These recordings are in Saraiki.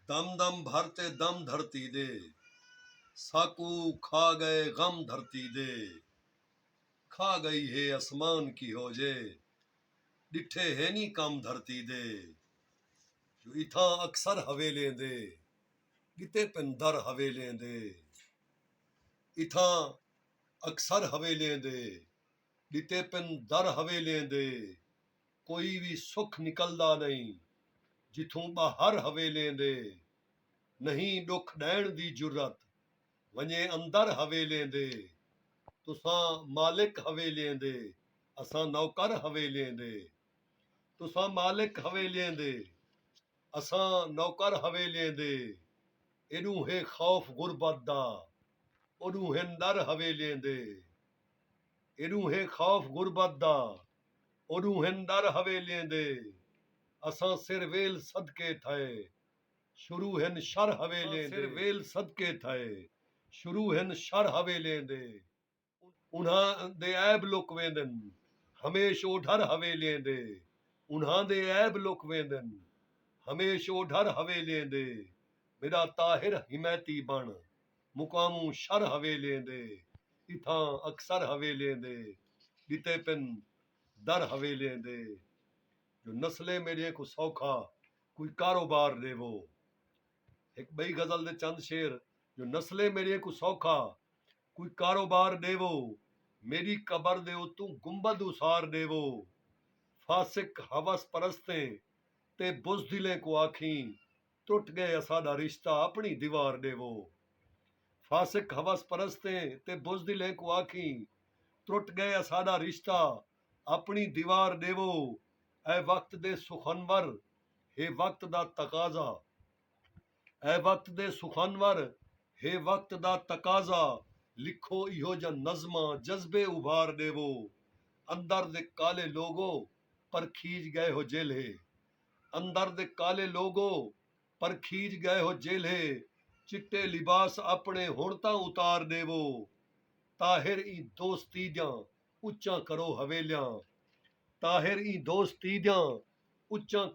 دم دم بھر تے دم دھرتی دے ساکوں کھا ڳئے غم دھرتی دے کھا ڳئی ہے اسمان کیہو جے ݙٹھے ہینی کم دھرتی دے جو اتھاں اکثر حویلیں دے ڳتے پن در حویلیں دے اتھاں اکثر حویلیں دے ڳتے پن در حویلیں دے۔ کوئی وی سکھ نکلدا نئیں جتھوں ٻاہر حویلیں دے نہیں ݙکھ ݙیݨ دی جرات ونڄے اندر حویلیں دے تساں مالک حویلیں دے اساں نوکر حویلیں دے تساں مالک حویلیں دے اساں نوکر حویلیں دے ایݙوں ہے خوف غربت دا اوݙوں ہن ݙر حویلیں دے ایݙوں ہے خوف غربت دا۔ او ݙونہن در حویلیں دے اساں سر ویل صدقے تھئے شروع ہن شر حویلیں دے اساں سر ویل صدقے تھئے شروع ہن شر حویلیں دے انہاں دے عیب لک ویندن ہمیش او ڈھر حویلیں دے انہاں دے عیب لک ویندن ہمیش او ڈھر حویلیں دے میݙا طاہر حمایتی بݨ مقاموں شر حویلیں دے اتھاں اکثر حویلیں دے ݙتے پن در حویلیں دے جو نسلیں میݙیاں کوں سوکھا کوئی کاروبار ݙیوو ہک ٻئی غزل دے چند شعر جو نسلیں میݙیاں کوں سوکھا کوئی کاروبار ݙیوو میݙی قبر دے اتوں گنبد اسار ݙیوو فاسق حوس پرستیں تے بزدلیں کوں آکھیں ٹٹ ڳئے اساݙا رشتہ اپݨی دیوار ݙیوو فاسق ہوس پرستیں تے بزدلیں کوں آکھیں ٹٹ ڳئے اساݙا رشتہ اپݨی دیوار ݙیوو اے وقت دے سخنور ہے وقت دا تقاضا اے وقت دے سخنور ہے وقت دا تقاضا لکھو ایہو جاں نظماں جذبے ابھار ݙیوو اندر دے کالے لوگو پرکھیج ڳئے ہو جیلھے اندر دے کالے لوگو پرکھیج ڳئے ہو جیلھے چٹے لباس اپݨے ہݨ تاں اتار ݙیوو طاہر ایں دوستی دیاں اچاں کرو حویلیاں طاہر ایں دوستی دیاں اچاں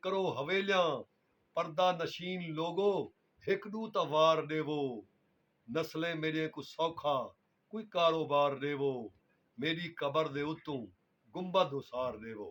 کرو حویلیاں پردہ نشین لوگو ہک ݙو تاں وار ݙیوو نسلیں میݙیں کوں سوکھا کوئی کاروبار ݙیوو میݙی قبر دے اتوں گنبد اسار ݙیوو۔